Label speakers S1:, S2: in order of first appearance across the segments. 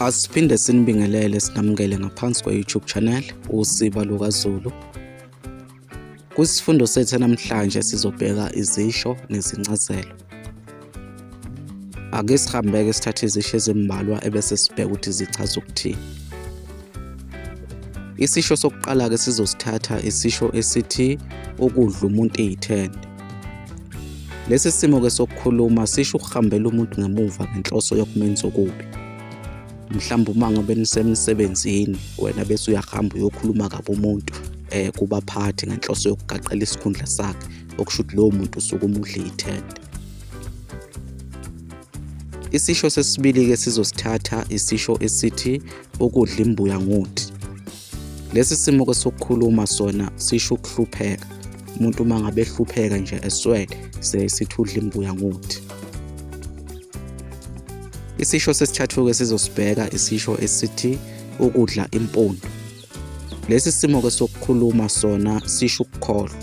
S1: Asiphinde sinibingelele sinamukele ngaphansi kwe-YouTube channel Usiba LukaZulu. Kwisifundo sethu namhlanje sizobheka izisho nezincazelo. Ake sihambeke sithathe izisho ezimbalwa ebese sibheka ukuthi zichaza ukuthini. Isisho sokuqala-ke sizosithatha isisho esithi ukudla umuntu eyithende. Lesi simo ke sokukhuluma sisho ukuhambela umuntu ngemuva ngenhloso yokumenza okubi. Mhlawumbe uma ngabe nisemsebenzini wena bese uyahamba uyokhuluma kabi umuntu eh kubaphathi ngenhloso yokugaqela isikhundla sakhe okusho ukuthi lowo muntu usuke umudle ithende. Isisho sesibili ke sizosithatha isisho esithi ukudla imbuya ngothi. Lesi simo ke sokukhuluma sona sisho ukuhlupheka. Umuntu uma ngabe ehlupheka nje eswele sesithudla imbuya ngothi. Isisho sesithathu-ke sizosibheka isisho esithi ukudla impondo. Lesi simo-ke sokukhuluma sona sisho ukukholwa.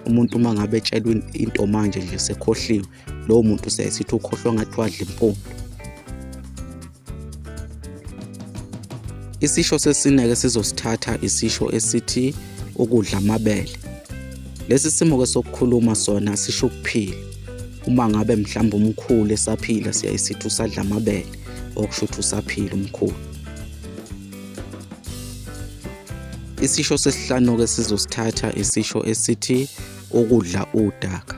S1: Umuntu uma ngabe etshelwe into manje nje sekhohliwe lowo muntu sesithi ukhohlwa ngathi wadla impundu isisho sesineke sizosithatha isisho esithi ukudla amabele lesi simo ke sokukhuluma sona sisho ukuphila uma ngabe mhlawumbe umkhulu esaphila siyayisithi usadla amabele okusho ukuthi usaphila umkhulu isisho sesihlanu ke sizosithatha isisho esithi ukudla udaka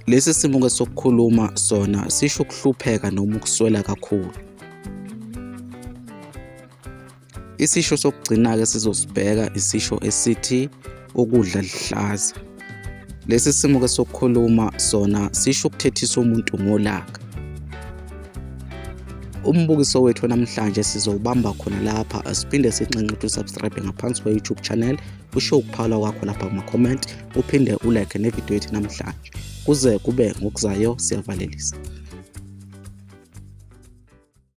S1: Lesi simo ke sokukhuluma sona sisho ukuhlupheka noma ukuswela kakhulu. Isisho sokugcina-ke sizosibheka isisho esithi ukudla lihlaza. Lesi simo ke sokukhuluma sona sisho ukuthethisa umuntu ngolaka. Umbukiso wethu namhlanje sizowubamba khona lapha siphinde sinxenxe ukuthi usubscribe ngaphansi kwe-YouTube channel usho ukuphawula kwakho lapha kuma-comment uphinde ulekhe nevidiyo yethu namhlanje kuze kube ngokuzayo siyavalelisa